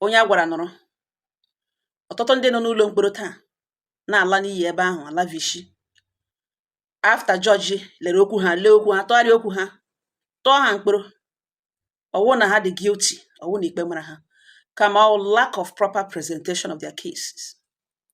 onye a gwara nụrụ ọtụtụ ndị nọ n'ụlọ mkpọrọ taa na-ala n'iyi ebe ahụ ala vishi after judge lere okwu ha lee okwu ha tụgharịa okwu ha tụọ ha mkpọrọ ọ wụ na ha dị guilty ọ wụ na ikpe mara ha kama ọ lack of proper presentation of their cases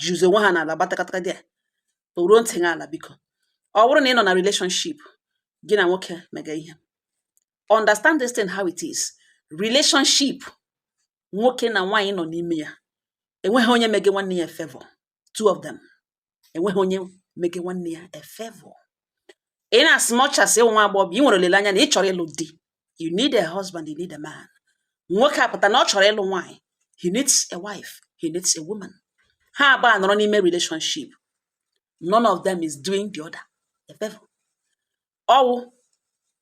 ji uzo onwe ha n'ala gbatakataka dị a tọruo ntị gị ala biko ọ bụrụ na ị nọ na relationship gị na nwoke mega ihe understand this thing how it is relationship nwoke na nwaanyị nọ n'ime ya enweghị onye mege nwanne ya a favor two of them enweghị onye mege nwanne ya a favor in as much as ị wụ nwa agbọghọ ị nwere olileanya na ị chọrọ ịlụ di you need a husband you need a man nwoke apụta na ọ chọrọ ịlụ nwaanyị he needs a wife he needs a woman ha abụọ anọrọ n'ime relationship none of them is doing the other a favor ọ wụ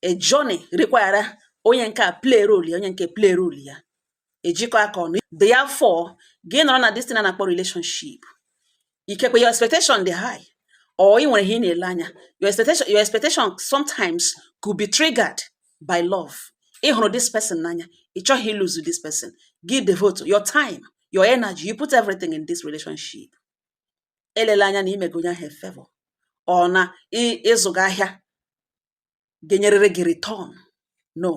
a journey require onye nke a play role ya onye nke play role ya ejikọ aka ọnụ therefore gị nọrọ na this thing a na-akpọ relationship ikekwe your expectation dị high or ị nwere ihe ị na-ele anya your expectation sometimes could be triggered by love ị hụrụ this person n'anya ị chọghị ị lose this person gị devote your time your energy you put everything in this relationship elela anya na i mege onye ahụ favor or na ị zụga ahịa ga-enyerịrị gị return no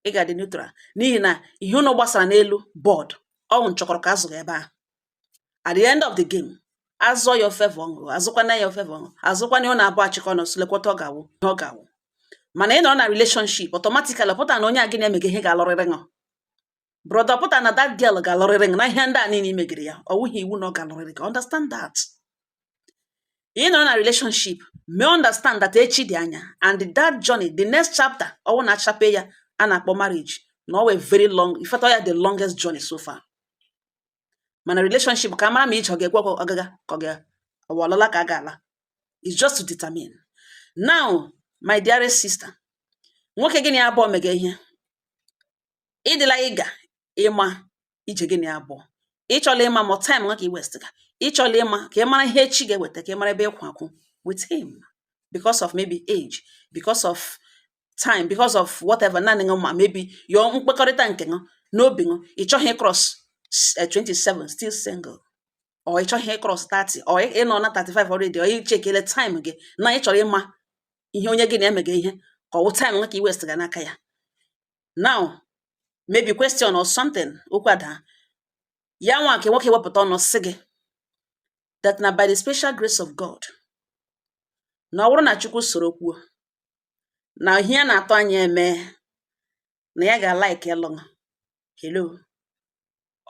ị ga-adị neutral n'ihi na ihe ụnụ gbasara n'elu board ọ wụ nchọkọrọ ka a zụga ebe ahụ at the end of the game a zụọ ya ọ favor ṅụ azụkwana ya ọ favor ṅụ azụkwana ya ọ na-abụ achịkọ na osulekwọta ọ ga-awụ ihe ọ ga-awụ mana ị nọrọ na relationship automatically pụta na onye a gị na ya mega ihe ga-alụrịrị ṅụ brother pụta na that girl ga-alụrịrị gị na ihe ndị a niile i megiri ya ọ wụghị iwu na ọ ga-alụrịrị gị understand that ị nọrọ na relationship mee understand that echi dị anya and that journey the next chapter ọ wụ na achape ya a na-akpọ marriage na ọ wụ a very long in fact ya the longest journey so far mana relationship ka mara ma ije ọ ga-ekwe ọgaga ka ọ ga-awụ alala ka a ga-ala is just to determine now my dearest sister nwoke gị na ya abụọ mega ihe ị dịla eager ịma ije gị na ya abụọ ị chọla ịma ma time nwa ka ị waste ga ị chọla ịma ka ị mara ihe echi ga-eweta ka ị mara ebe ị kwụ akwụ with him because of maybe age because of time because of whatever naanị ṅụ ma maybe your mkpekọrịta nke ṅụ n'obi ṅụ ị chọghị cross 27 still single or ị chọghị cross 30 or ị nọ na 35 already or ị checkele time gị na ị chọrọ ịma ihe onye gị na ya mega ihe ka ọ wụ time nwa ka ị waste ga n'aka ya now maybe question or something okwu ada ya nwa nke nwoke wepụta ọnụ sị gị that na by the special grace of God na ọ wụrụ na Chukwu soro kwuo na ihe a na-atụ anya eme na ya ga-alike ịlụ ṅụ hello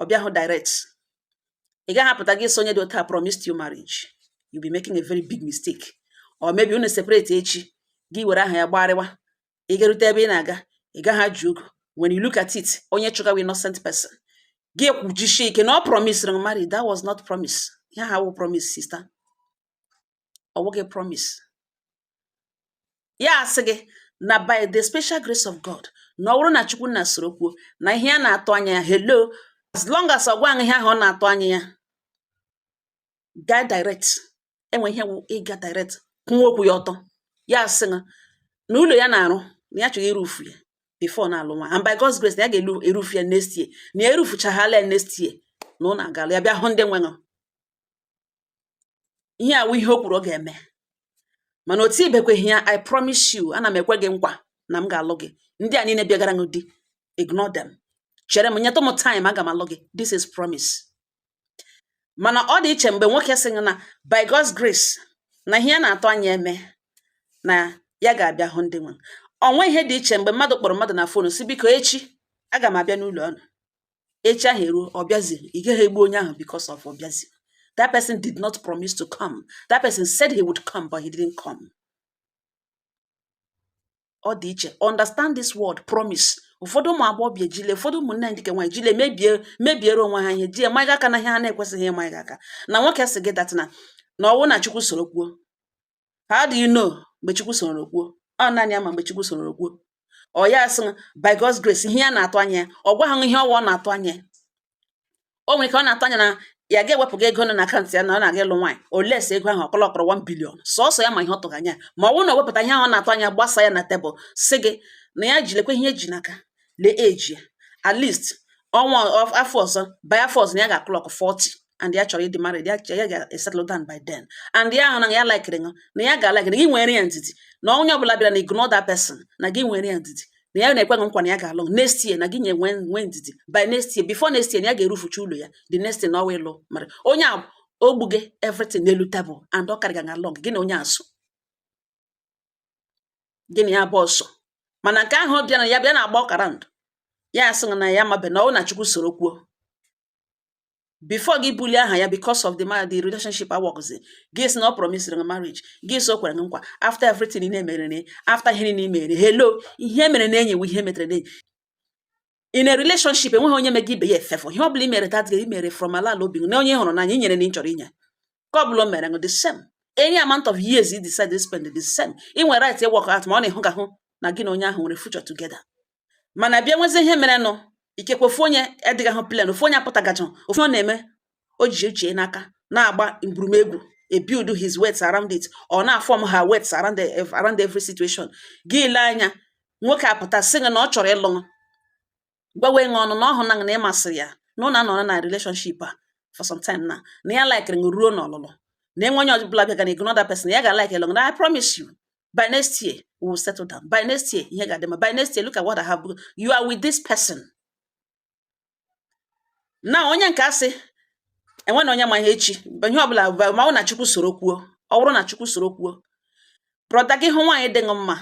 ọ bịahụ direct ị gaghị apụta gị sị onye dị otu a promised you marriage you be making a very big mistake or maybe unu separate echi gị were aha ya gbarịwa ị garute ebe ị na-aga ị gaghị ajụ ogo when you look at it onye chụgawa innocent person gị ekwujisie ike na ọ promise marry that was not promise ihe ahụ awụ promise sista ọ wụghị promise ya asị gị na by the special grace of God na ọ wụrụ na Chukwu nna soro kwuo na ihe a na-atụ anya ya hello as long as ọ gwa ihe ahụ ọ na-atụ anya ya gaa direct e nwe ihe wụ ịga direct kwụwa okwu ya ọtọ ya asị gị na ụlọ ya na-arụ na ya chọrọ irufu ya before na alụ nwa and by God's grace na ya ga-erufu ya next year na ya erufuchaghala ya next year na ọ na-agalụ ya bịa hụ ndị nwe ṅụ ihe a wụ ihe o kwuru ọ ga-eme mana otu ibekweghị ya I promise you ana m ekwe gị nkwa na m ga-alụ gị ndị a niile bịagara gị di ignore them chere m nyetụ m time aga m alụ gị this is promise mana ọ dị iche mgbe nwoke sị na by God's grace na ihe ya na-atụ anya eme na ya ga-abịa hụ ndị nwe o nwe ihe dị iche mgbe mmadụ kpọrọ mmadụ na fonu sị biko echi aga m abịa n'ụlọ unu echi ahụ eruo ọ bịazi ị gaghị egbu onye ahụ because of ọ bịazi that person did not promise to come that person said he would come but he didn't come ọ dị iche understand this word promise ụfọdụ ụmụ agbọghọbịa ejile ụfọdụ ụmụnne anyị ndị nke nwaanyị jile mebiere onwe ha ihe ji emaghị aka na ihe ha na-ekwesịghị ịmaghị aka na nwoke sị gị that na na ọ wụ na chukwu soro kwuo how do you know mgbe chukwu soro kwuo ọ naanị ya ma mgbe chukwu soro kwuo ọ ya sị by God's grace ihe ya na-atụ anya ya ọ gwahụ ihe ọ wụ ọ na-atụ anya o nwere ike ọ na-atụ anya na ya ga-ewepụga ego nọ na akaụntụ ya na ọ na-aga ịlụ nwaanyị unless ego ahụ ọ clockọrọ 1 billion sọsọ ya ma ihe ọ tụrụ anya ma ọ bụrụ na o wepụta ihe ahụ ọ na-atụ anya gbasa ya na tebụl sị gị na ya ji lekwa ihe ya ji n'aka lee age ya at least ọnwa of- afọ ọzọ by afọ ọzọ na ya ga-aclock 40 and ya chọrọ ịdị married ya ya ga-esettle down by then and ya ahụ na ya likere ṅụ na ya ga-alike na gị nwere ya ndidi na onye ọbụla bịara na ignore that person na gị nwere ya ndidi na ya na-ekwe gị nkwa na ya ga-alụ ṅụ next year na gị nye nwee ndidi by next year before next year na ya ga-erufucha ụlọ ya the next year na ọwa ịlụ mara onye a ogbu gị everything n'elu table and ọ carry gị along gị na onye a so gị na ya gba ọsọ mana nke ahụ bịa na ya bịa na-agba around ya asị na ya mabe na ọ wụ na chukwu soro kwuo before gị bulie aha ya because of the man the relationship awọgụzi gị si na ọ promisiri marriage gị si o kwere nkwa after everything ị na-emere na after ihe niile mere hello ihe mere na enyi ihe metere na enyi in a relationship enweghị onye mega ibe ya favour ihe ọ bụla i mere that gị mere from ala ala obi na onye hụrụ n'anya inyere na ị chọrọ inye ka ọ bụla o mere the same any amount of years you decide to spend the same ị nwere right ịwalk out ma ọ na ị hụkahụ na gị na onye ahụ nwere future together mana bịa nwezie ihe merenụ ikekwe ofu onye edịgahụ plain ofu onye apụtagacha ofu ọ na-eme o ji uche n'aka na-agba mgburumegwu e build his weights around it ọ na-aform her weights around the, around every situation gị ile anya nwoke apụta sị gị na ọ chọrọ ịlụ gwawa ṅụ ọnụ na ọ hụna na ị masịrị ya na ụnụ anọrọ na relationship a for some time na na ya likere ṅụ ruo n'ọlụlụ na enwe onye ọbụla bịa ga na ignore that person ya ga like ịlụ ṅụ na I promise you by next year we will settle down by next year ihe ga-adị mma by next year look at what I have you are with this person na onye nke asị enwe na onye ma ihe echi ihe ọbụla ma ọ wụ na chukwu soro kwuo ọ bụrụ na chukwu soro kwuo brother gị hụ nwaanyị dị ṅụ mma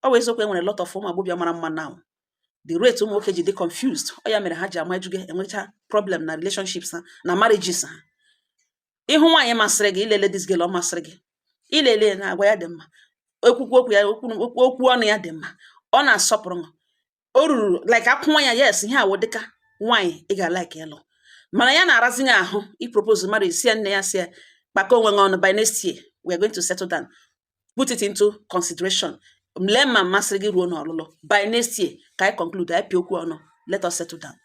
ọ bụ eziokwu enwere lot of ụmụ agbọghọbịa mara mma now the rate ụmụ nwoke ji dị confused ọ ya mere ha ji ama ejuge enwecha problem na relationships ha na marriages ha ị hụ nwaanyị masịrị gị i lele this girl ọ masịrị gị i lele na agwa ya dị mma ekwukwu okwu ya okwu ọnụ ya dị mma ọ na-asọpụrụ m o ruru like akwụ nwa ya yes ihe a wụ dịka nwaanyị ị ga-alike ịlụ mana ya na-arazi gị ahụ ịpropose mmadụ ị sị ya nne ya si ya kpakọ onwe gị ọnụ by next year we are going to settle down put it into consideration lee ma m masịrị gị ruo n'ọlụlụ by next year ka anyị conclude anyị pịa okwu ọnụ let us settle down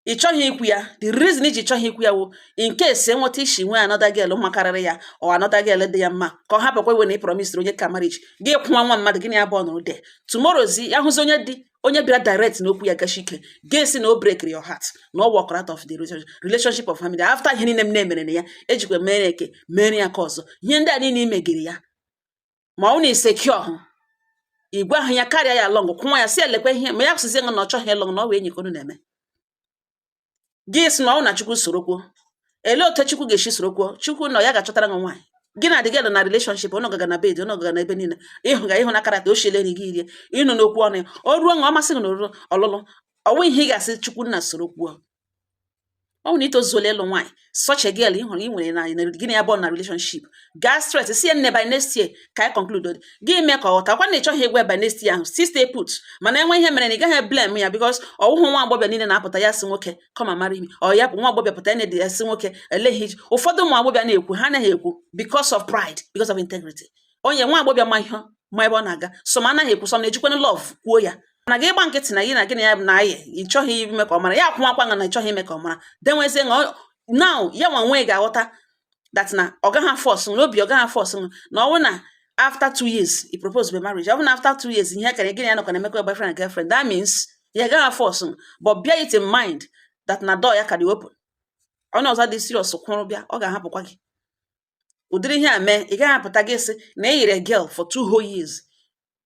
ị chọghị ikwu ya the reason i ji chọghị ikwu ya wụ in case enweta isi nwee another girl makarịrị ya or another girl dị ya mma ka ọ hapụkwa iwe na ị promisiri onye nke a marriage gị kwụwa nwa mmadụ gị na ya bụ ọnụrụ de tomorrowzi ya hụzi onye dị onye bịara direct na okwu ya gasi ike gị sị na o break your heart na ọ walk out of the relationship of family after ihe niile m na-emere na ya ejikwa mere eke mere ya ka ọzọ ihe ndị a niile imegiri ya ma ọ wụ na i secure hụ igwe ahụ ya karịa ya lụ ṅụ kwụnwa ya si elekwa ihe ma ya kwụsịzi ṅụ na ọ chọghị ịlụ ṅụ na ọ wụ enyi ka ụnụ na-eme gị si na ọ wụ na chukwu soro kwuo ele otu chukwu ga-esi soro kwuo chukwu na ya ga-achọtara gị nwaanyị gị na ya dịga na relationship ụnụ gaga na bed ụnụ gaga na ebe niile ịhụ ga ị hụna character o siele nri gị erie ị nụna okwu ọnụ ya o ruo ṅụ ọ masị gị na o ruru ọlụlụ ọ wụ ihe ị ga-asị chukwu nna soro kwuo ọ wụ na i tozuola ịlụ nwaanyị such a girl ị hụrụ ị nwere na na- gị na ya bụ na relationship gaa straight si ya nne by next year ka anyị conclude dị gị mee ka ọ ghọta kwa na ị chọghị ịgwa ya by next year ahụ still stay put mana enwe ihe mere na ị gaghị blame ya because ọ wụhụ nwa agbọghọ niile na-apụta ya si nwoke come and marry me or ya bụ nwa agbọghọ pụta ya na-ede ya si nwoke elee ihe i ji. ụfọdụ ụmụ agbọghọ na-ekwu ha anaghị ekwu because of pride because of integrity onye nwa agbọghọ ma ihe ma ebe ọ na-aga some anaghị ekwu some na-ejikwanụ love kwuo ya na gị ịgba nkịtị na gị na gị na ya bụ na ayị ị chọghị ime ka ọ mara ya akwụnwakwa nga na ị chọghị ime ka ọ mara denwezie nga now ya nwa nwee ga-aghọta that na ọ gaghị aforce na obi ọ gaghị aforce na ọ bụ na after two years i proposebe marriage ọ bụ na after two years ihe kere gị na ya nọkọ na emekọ boyfriend and girlfriend that means ya gaghị aforce but bear it in mind that na door ya ka dị open onye ọzọ dị serious kwụrụ bịa ọ ga-ahapụkwa gị ụdịrị ihe a mee ị gaghị apụta gị sị na e yiri girl for two whole years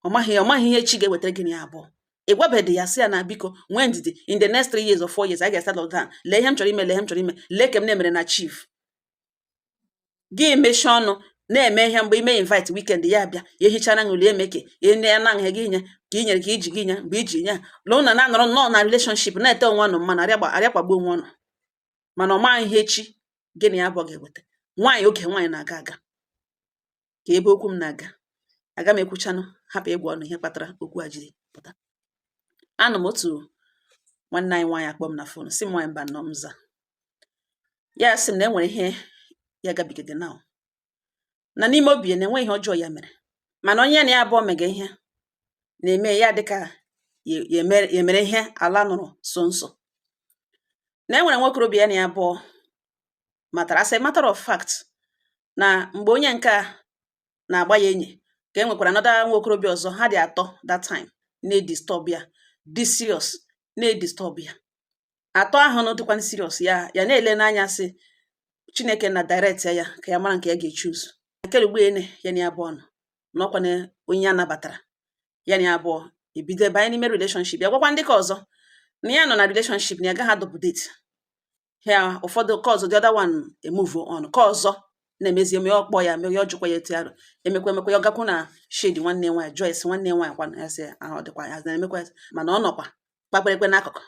ọ maghị ọ maghị ihe echi ga-ewetara gị na ya abụọ ị gwabedị ya sị ya na biko nwee ndidi in the next three years or four years a ga-esettle down lee ihe m chọrọ ime lee ihe m chọrọ ime lee ka m na-emere na-achieve gị mechie ọnụ na-eme ihe mgbe ime invite weekend ya bịa ya ehichara ṅụlie emeke enye ya na nha gị nye ka i nyere ka iji gị nye mgbe iji nye lụụ na na-anọrọ nnọọ na relationship na-ete onwe ọnụ mmanụ arịa kpagbuo onwe ọnụ mana ọ maghị ihe echi gị na ya abụọ ga-eweta nwaanyị oge nwaanyị na-aga aga ka ebe okwu m na-aga aga m ekwuchanụ hapụ ịgwa ọnụ ihe kpatara okwu a jiri pụta anọ m otu nwanne anyị nwaanyị akpọọ m na fon sị m nwaanyị Mbano m za ya sị m na e nwere ihe ya gabigaga na na n'ime obi ya na enweghị ihe ọjọọ ya mere mana onye na ya abụọ mega ihe na-eme ya dịka ya mere ihe ala nụrụ sọọ nsọ na e nwere nwokorobịa ya na ya abụọ matara as a matter of fact na mgbe onye nke a na-agba ya enyi ka e nwekwara another nwokorobịa ọzọ ha dị atọ that time na-edisturb ya dị serious na-edisturb ya atọ ahụ na dịkwa serious ya ya na-ele n'anya sị chineke na direct ya ka ya mara nke ya ga-echoose akerugbe ene ya na ya abụọ nọ na ọkwa na onye ya nabatara ya na ya abụọ ebido banye n'ime relationship ya gwakwa ndị ka ọzọ na ya nọ na relationship na ya gaghị adouble date ya ụfọdụ ka ọzọ the other one emove on ka ọzọ na-emezi eme ọ kpọọ ya mere ya ọ jụkwa ya etu arụ emekwa emekwa ya ọ gakwu na shade nwanne nwaanyị jụọ ese nwanne nwaanyị kwa ya sị ahụ dịkwa ya na-emekwa mana ọ nọkwa kpakwara ekwe n'akụkụ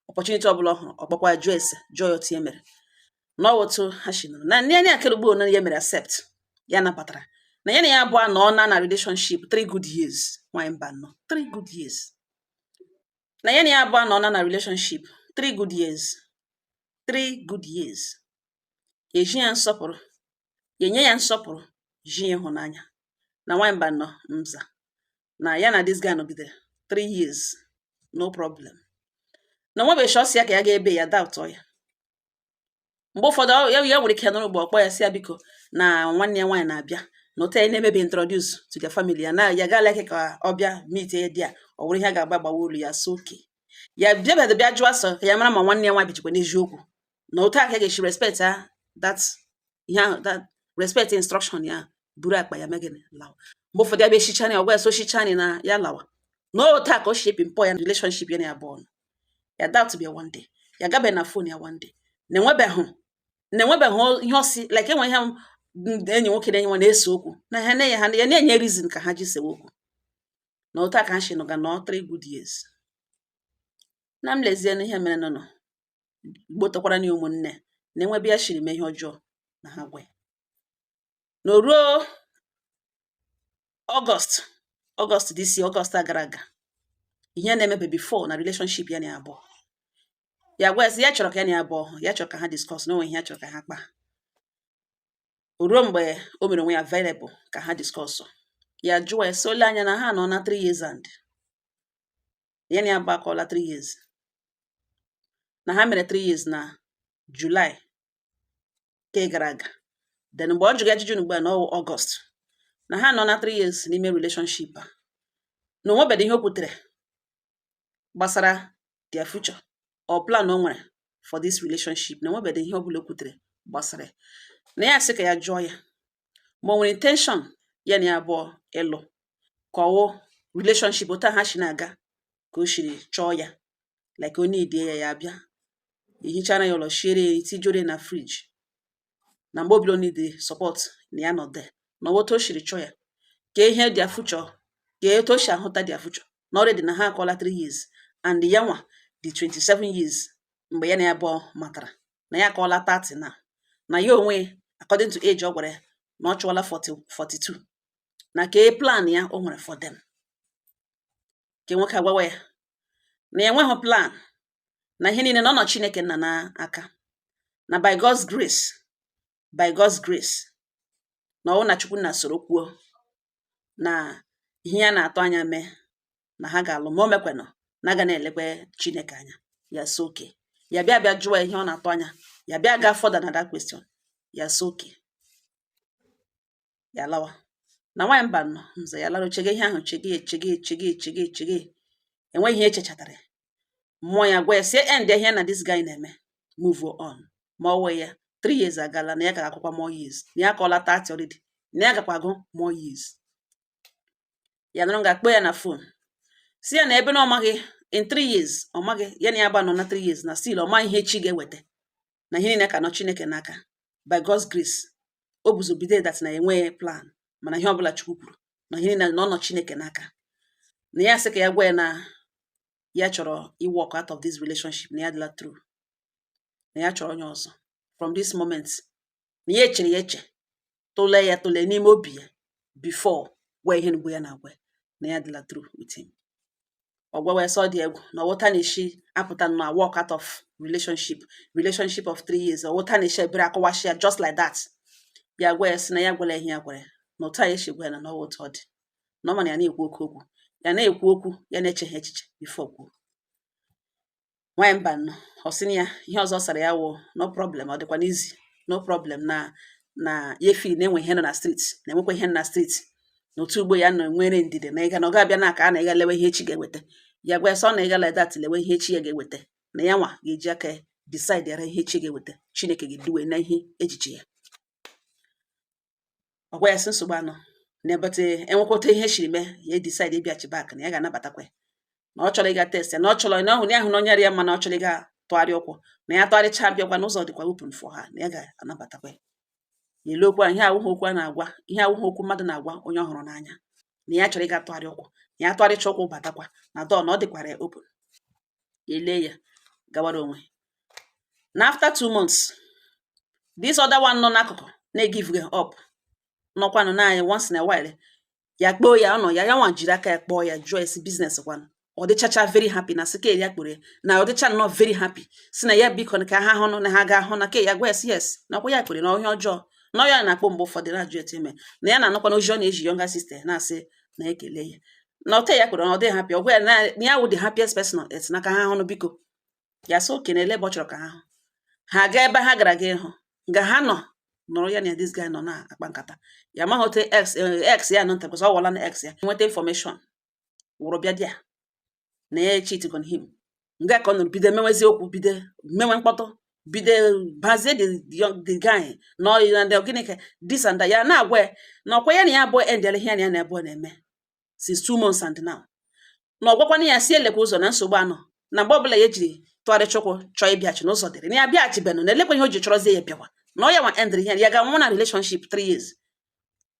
opportunity ọbụla ọ hụrụ ọ kpọkwa jụọ ese jụọ ya otu e mere na otu ha si nọrọ na ndị anya akerugbo na ya mere accept ya nabatara na ya na ya abụọ nọ na na relationship three good years nwanyị Mbano three good years na ya na ya abụọ nọ na na relationship three good years three good years ya eji ya nsọpụrụ ya enye ya nsọpụrụ ji ya ịhụnanya na nwanyị Mbano m za na ya na this guy nọgidere three years no problem na enwe ụbọchị ọ sị ya ka ya ga ebe ya doubt ya mgbe ụfọdụ ya ya nwere ike nọrọ mgbe ọ kpọọ ya sị ya biko na nwanne ya nwaanyị na-abịa na otu ya na-emebi introduce to the family ya na ya ga-alike ka ọ bịa meet ya there ọ bụrụ ihe a ga-agba agbawa olu ya sị okay ya bịabịa bịa jụọ ese ka ya mara ma nwanne ya nwaanyị bichikwa n'eziokwu na otu a ka e ga-esi respect ha that ihe ahụ that respect instruction ya buru akpa ya mee gịnị lawa mgbe ụfọdụ ya bịa echichani ọ gwa ya sochichani na ya lawa na otu a ka o si ebi mpọ ya na relationship ya na ya abụọ nọ ya doubt bịa one day ya gabeghị na phone ya one day na enwebeghị na enwebeghị ihe ọ sị like enwe ihe m- ndị enyi nwoke na enyi nwaanyị na-ese okwu na ha na-enye ha ya na-enye reason ka ha ji sewe okwu na otu a ka ha si nọga nọ three good years na m lezie n'ihe mere nụnụ ghọtakwara na ụmụnne na enwe ebe ya shiri mee ihe ọjọọ na ha gwa ya na o ruo August August this year August a gara aga ihe na-emebe before na relationship ya na ya abụọ ya gwa ya sị ya chọrọ ka ya na ya abụọ ya chọrọ ka ha discuss na o nwe ihe ya chọrọ ka ha kpaa o ruo mgbe o mere onwe ya available ka ha discuss ya jụọ ya sị o lee anya na ha nọ na 3 years and ya na ya abụọ akụọla 3 years na ha mere 3 years na July nke gara aga then mgbe ọ jụga ya ajụjụ ugbu a na August na ha nọ na 3 years n'ime relationship a na o nwebeghị ihe o kwutere gbasara their future or plan o nwere for this relationship na o nwebeghị ihe ọ bụla o kwutere gbasara ya na ya sị ka ya jụọ ya ma o nwere intention ya na ya abụọ ịlụ ka ọ wụ relationship otu ha si na-aga ka o siri chọọ ya like onye idie ya ya abịa ehichara ya ụlọ shiere ya ihe tijuoro na fridge na mgbe ọ bụla o need support na ya nọ there na otu o siri chọọ ya ka ihe their future ka etu o si ahụta their future na already na ha akụọla 3 years and ya nwa dị 27 years mgbe ya na ya abụọ matara na ya akụọla 30 na na ya onwe according to age ọ gwara ya na ọ kụọla 40 42 na kee plan ya o nwere for them ka nwoke agwawa ya na ya enweghị plan na ihe niile na ọ nọ Chineke nna n'aka na by God's grace by God's grace na ọ wụ na Chukwu nna soro kwuo na ihe ya na-atụ anya mee na ha ga-alụ ma o mekwenụ na a ga na-elekwe Chineke anya ya sị okay ya bịa bịa jụọ ihe ọ na-atụ anya ya bịa gaa further na that question ya sị okay ya lawa na nwaanyị mba nọ nze ya lara chege ihe ahụ chege chege chege chege chege enweghị ihe echechatara mmụọ ya gwa ya sị ya end ihe na this guy na-eme move on ma ọ wee ya three years agala na ya ga-akwụkwa more years na ya akụọla thirty already na ya gakwa agụ more years ya nọrọ nga kpọọ ya na phone sị ya na ebe na ọ maghị in three years ọ maghị ya na ya abụọ nọ na three years na still ọ maghị ihe chi ga-eweta na ihe niile ka nọ Chineke n'aka by God's grace o buzo bido that na enweghị plan mana ihe ọbụla Chukwu kwuru na ihe niile na ọ nọ Chineke n'aka na ya sị ka ya gwa ya na ya chọrọ iwalk out of this relationship na ya dịla through na ya chọrọ onye ọzọ from this moment na ya echere ya eche tụlee ya tụlee n'ime obi ya before gwa ihe mgbu ya na-agwa na ya dịla through with him ọ gwawa ya sị ọ dị egwu na ọ wụ otu a na-esi apụta na walk out of relationship relationship of three years ọ wụ otu a na-esi ebere akọwashi ya just like that ya gwa ya si na ya gwara ihe ya gwara ya na otu a ya esi gwa ya na ọ wụ otu ọ dị na ọ ma na ya na-ekwu oke okwu ya na-ekwu okwu ya na-echeghị echiche before kwuo nwaanyị mba nụ ọ sị na ya ihe ọzọ ọ sara ya wụ no problem ọ dịkwanụ easy no problem na na ya feel na enwe ihe nọ na street na enwekwa ihe nọ na street na otu ugbo ya nọ nwere ndidi na ịga na ọ ga-abịa na aka a na ịga lewe ihe echi ga-eweta ya gwa ya sị ọ na ịga like that lewe ihe echi ya ga-eweta na ya nwa ga-eji aka ya decide yara ihe echi ga-eweta Chineke ga-eduwe na ihe echiche ya ọ gwa ya sị nsogbu anọ n'ebete enwekwa otu ihe shiri mee ya edecide ịbịachi back na ya ga-anabatakwa ya na ọ chọrọ ịga test ya na ọ chọrọ na ọhụrụ ya hụ na onye rịa mma na ọ chọrọ ịga tụgharị ụkwụ na ya tụgharịcha bịakwa na ụzọ dịkwa open for ha na ya ga-anabatakwa ya n'elu okwu a ihe awụghị okwu a na-agwa ihe awụghị okwu mmadụ na-agwa onye ọ hụrụ n'anya na ya chọrọ ịga tụgharị ụkwụ na ya tụgharịcha ụkwụ batakwa na door na ọ dịkwara ya open ele ya gawara onwe na after two months this other one nọ n'akụkụ na-egiveghị up nọkwanụ naanị once in a while ya kpọọ ya ọnọ ya ya nwa jiri aka ya kpọọ ya jụọ ya sị business kwanụ ọ dịchacha very happy na sị ke ya kpọrọ ya na ọ dịcha nnọọ very happy sị na ya biko na ka ha hụnụ na ha ga-ahụ na ke ya gwa yes yes na ọkwa ya kpọrọ na onye ọjọọ na ya na-akpọ mgbe ụfọdụ na-ajụ ete ime na ya na-anụkwa na ozi ọ na-ezi younger sister na-asị na ekele ya na ọte ya kwere na ọ dị happy ọ gwa ya na ya wụ the happiest person on earth na ka ha hụnụ biko ya sị okay na ele ebe ọ chọrọ ka ha hụ ha gaa ebe ha gara ga ịhụ nga ha nọ nọrọ ya na this guy nọ na-akpa nkata ya amaghị ote ex ya nọ nta because ọ wụla na ex ya nweta information wụrụ bịa there na ya cheat on him nga ka ọ nọrọ bido mewezi okwu bido mewe mkpọtụ bido bazie the young the guy na ọyị na ndị gịnị ka this and that ya na-agwa ya na ọkwa ya na ya abụọ endịala ihe ya na ya na abụọ na-eme since two months and now na ọ gwakwana ya sị elekwa ụzọ na nsogbu anọ na mgbe ọbụla ya ejiri tụgharịcha ụkwụ chọọ ịbịachi na ụzọ dịrị na ya bịaghachibenụ na elekwa ihe o ji chọrọzie ya bịawa na ọ ya nwa endịrị ihe ya ga-anwụ na relationship three years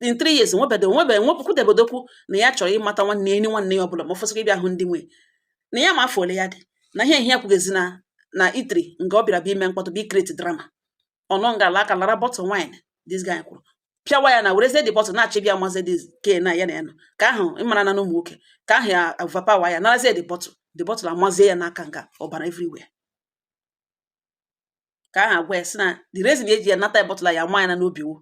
in three years nwebede nwebe nwepụkwudebedokwu na ya chọrọ ịmata nwanne enyi nwanne ya ọbụla ma ọ fọsịkwa ịbịa hụ ndị nwe na ya ma afọ ole ya dị na ihe ihe kwugezi na na eatery nga ọ bịara bịa ime mkpọtụ bịa icreate drama ọnụ nga ala aka lara bottle wine this guy kwuru pịawa ya na werezie the bottle na-achọ ịbịa mazi the guy na ya na ya nọ guy ahụ ị mara na n'ụmụ nwoke guy ahụ ya overpower ya narazie the bottle the bottle amazie ya n'aka nga ọbara everywhere ka aha gwa ya sị na the reason eji ya nata bottle a ya maa ya na n'obi wo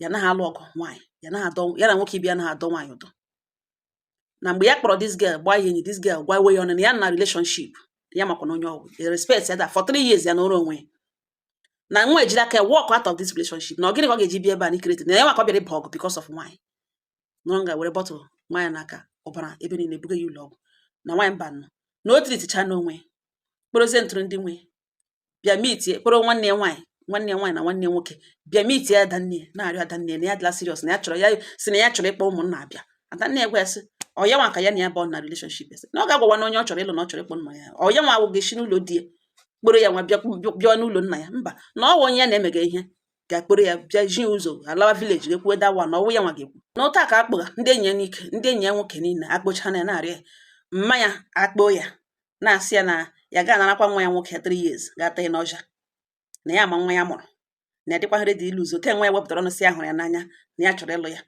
ya naghị alụ ọgụ nwaanyị ya naghị adọ ya na nwoke ibe ya naghị adọ nwaanyị ụdọ na mgbe ya kpọrọ this girl gbaa ya enyi this girl gwa iwe ya ọnụ na ya na relationship ya makwa na onye ọ wụ ya respect ya da for three years ya nọrọ onwe ya na nwa a jiri aka ya walk out of this relationship na ọ gịnị ka ọ ga-eji bịa ebe a na ikirete na ya nwa ka ọ bịara ịba ọgụ because of nwaanyị nọrọ nga were bottle maa ya n'aka ọbara ebe niile buga ya ụlọ ọgwụ na nwaanyị mba nọ na o tiriticha n'onwe kpọrọzie ntụrụ ndị nwe bịa mitie kpọrọ nwanne ya nwaanyị nwanne ya nwaanyị na nwanne ya nwoke bịa mitie ya adanne ya na-arịọ adanne ya na ya dịla serious na ya chọrọ ya sị na ya chọrọ ịkpọ ụmụnna abịa adanne ya gwa ya sị ọ ya nwa ka ya na ya bụ na relationship ese na ọ ga-agwawa na onye ọ chọrọ ịlụ na ọ chọrọ ịkpọ nna ya ọ ya nwa wụ ga-esi n'ụlọ di ya kpọrọ ya nwa bịa bịa n'ụlọ nna ya mba na ọ wụ onye ya na-emega ihe ga-akpọrọ ya bịa ji ụzọ alawa village ga-ekwuwe da wa na ọ wụ ya nwa ga-ekwu na otu a ka akpọga ndị enyi ya n'ike ndị enyi ya nwoke niile akpọcha na ya na-ara mmanya akpọọ ya na-asị ya na ya ga-anarakwa nwa ya nwoke 3 years ga-ata ya n'ọja na ya ma nwa ya mụrụ na ya dịkwaghị ready ilose ke nwa ya wepụtara ọnụ sị ya hụrụ ya n'anya na ya chọrọ ịlụ ya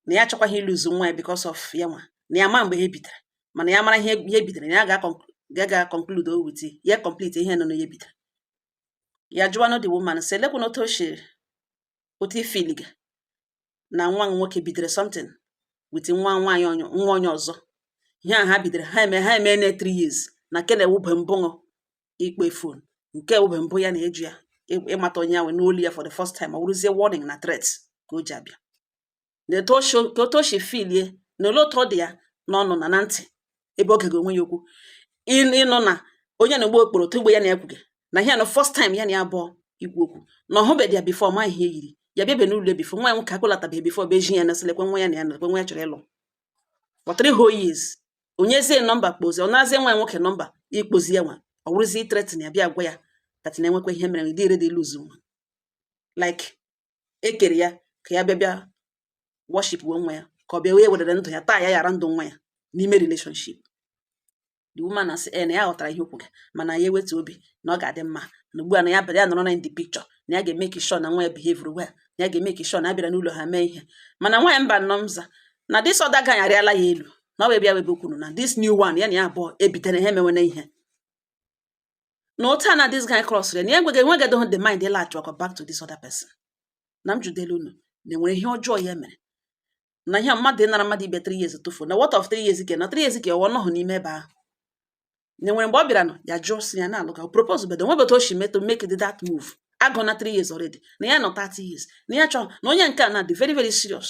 na ya achọkwaghị ilose nwa ya because of ya nwa na ya ma mgbe ha ebidara mana ya mara ihe ihe bidara na ya ga-aconclude with ya complete ihe nọ na ya bidara ya jụwanụ the woman sị lekwanụ otu o si otu i filiga na nwa nwoke bidoro something with nwa nwaanyị onye- nwa onye ọzọ ihe a ha bidoro ha eme ha eme na 3 years na nke na-ewube mbụ ṅụ ịkpọ phone nke ewube mbụ ya na-eji ya ị- ịmata onye ahụ n'olu ya for the first time ọ wụrụzie warning na threat ka o ji abịa na etu o si ka otu o si filie na ole otu ọ dị ya n'ọnụ na na ntị ebe oge ga-onwe ya okwu ịnụ ịnụ na onye na-egbu okporo otu mgbe ya na ekwughị na ihe na first time ya na ya abụọ ikwu okwu na ọ hụbeghị ya before ma ihe yiri ya bịabe n'ụlọ before nwa ya nwoke akpọlatabeghị before bụ eji ya na sị lekwe nwa ya na ya na nwa ya chọrọ ịlụ for three whole years o nyezie number kpọzie ọ narazie nwa ya nwoke number ịkpọzi ya nwa ọ wụrụzie ithreaten ya bịa gwa ya that na-enwekwa ihe mere dị ready ilose nwa like e kere ya ka ya bịa bịa worship we nwa ya ka ọ bịa wee wedere ndụ ya taa ya yara ndụ nwa ya n'ime relationship the woman na sị e na ya ghọtara ihe o kwuga mana ya ewetu obi na ọ ga-adị mma na ugbu a na ya bịara ya nọrọ na in the picture na ya ga-emake sure na nwa ya behave well na ya ga-emake sure na a bịara n'ụlọ ha mee ihe mana nwa ya mba nnọọ maka na this other guy arịala ya elu na ọ wee bịa webe kwuru na this new one ya na ya abụọ ebidara ha emewene ihe na otu a na this guy cross na ya enweghị enweghịdị the mind ịlaghachi ọzọ back to this other person na m jụdelu unu na enwere ihe ọjọọ ya mere na ihe mmadụ ịnara mmadụ ibe 3 years tufuo na what of 3 years ke na 3 years ke ọ nọghị n'ime ebe ahụ na enwere mgbe ọ bịara nọ ya jụọ sị ya na-alụ ka propose bedo nwebe otu o si meto make the that move agụ na 3 years already na ya nọ 30 years na ya chọọ na onye nke a na dị very very serious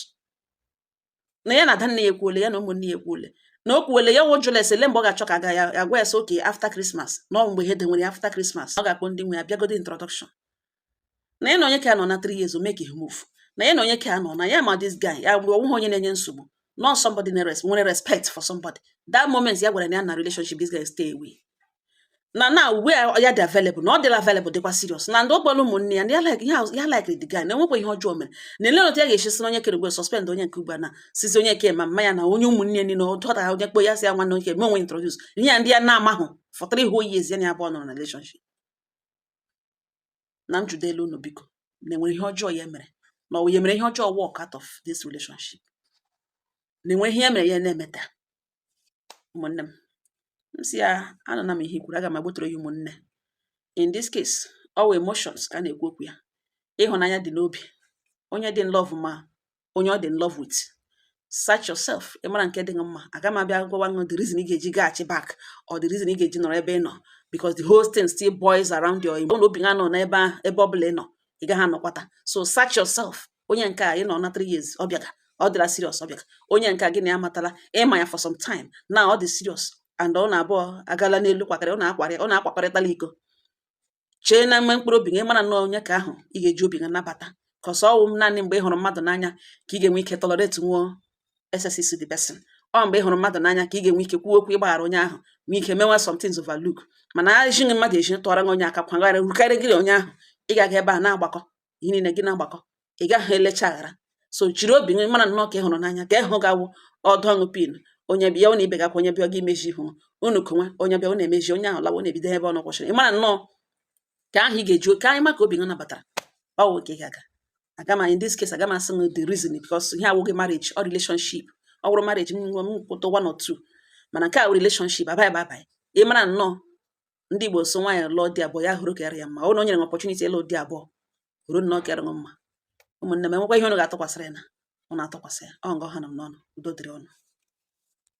na ya na ada nne ya ekwuole ya na ụmụnne ya ekwuole na o kwuole ya ọ jụọla ese ele mgbe ọ ga-achọ ka aga ya agwa ya sị okay after Christmas na ọ mgbe ha edenwere ya after Christmas ọ ga-akpọ ndị nwe ya bịagodi introduction na ya na onye ka ya nọ na 3 years ọ makeghị move na ya na onye ka ya nọ na ya ma this guy ya mgbe ọ wụghị onye na-enye nsogbu na ọ somebody nwere respect for somebody that moment ya gwara na ya nọ na relationship this guy stay away na now a ya dị available na ọ dịla available dịkwa serious na ndị ọgbara ụmụnne ya na ya like ya like the guy na enwekwa ihe ọjọọ mere na ele otu ya ga-esi sị na onye kere ugwe suspend onye nke ugbu a na sizi onye ke ma mma ya na onye ụmụnne ya niile ọdọta onye kpo ya si ya nwanne onye me onwe introduce ihe ya ndị ya na-amahụ for three whole years ya na ya abụọ nọrọ na relationship na m jụdo elu unu biko na enwere ihe ọjọọ ya mere na ọ ya mere ihe ọjọọ walk out of this relationship na enwere ihe ya mere ya na-emeta ụmụnne m m sị ya anụna m ihe i kwuru aga m agbọtọrọ ya ụmụnne in this case ọ emotions ka a na-ekwu okwu ya ịhụnanya dị n'obi onye dị in love ma onye ọ dị in love with search yourself ị mara nke dị gị mma aga m abịa gwawa gị the reason ị ga-eji gaghachi back or the reason ị ga-eji nọrọ ebe ị nọ because the whole thing still boils around your emotion obi ha nọ n'ebe ahụ ebe ọ bụla ị nọ ị gaghị anọkwata so search yourself onye nke a ị nọ na 3 years ọ bịaga ọ dịla serious ọ bịaga onye nke a gị na ya matala ịma ya for some time na ọ dị serious and unu abụọ agala n'elu kwakịrị unu akwarị unu akwakọrịtala iko chee na mgbe mkpụrụ obi gị mara na onye ka ahụ ị ga-eji obi gị nabata cause ọ wụ naanị mgbe ị hụrụ mmadụ n'anya ka ị ga-enwe ike tolerate nwụọ excesses the person ọ mgbe ị hụrụ mmadụ n'anya ka ị ga-enwe ike kwuo okwu ịgbaghara onye ahụ nwee ike mewa some things overlook mana ejighị mmadụ eji tụọra gị onye aka kwagharị rukarị gịrị onye ahụ ị gaghị ebe a na-agbakọ ihe niile gị na-agbakọ ị gaghị elecha aghara so jiri obi gị mara nnọọ ka ị hụrụ n'anya ka ịhụ gawụ ọdụ ọṅụ pin onye bịa ọ na-ibe gakwa onye bịa gị imeji ihu unu konwe onye bịa ọ na-emeji onye ahụ lawa unu ebido ebe unu kwụsịrị ị mara nnọọ ka ahụ ị ga-eji ka anyị ma ka obi gị nabatara ọ wụ ka ị ga-aga aga m in this case aga m asị m the reason because ihe a awụghị marriage or relationship ọ wụrụ marriage m nwe m kwuta one or two mana nke a wụ relationship abaghị abaghị ị mara nnọọ ndị Igbo sị nwaanyị lụọ di abụọ ya họrọ nke ka ya mma now e nyere gị opportunity ịlụ di abụọ họrọ nke kara gị mma ụmụnne m enwekwa ihe ụnụ ga-atụkwasịrị ya na ụnụ atụkwasị ya ọ nga hana m n'ọnụ udo dịrị ụnụ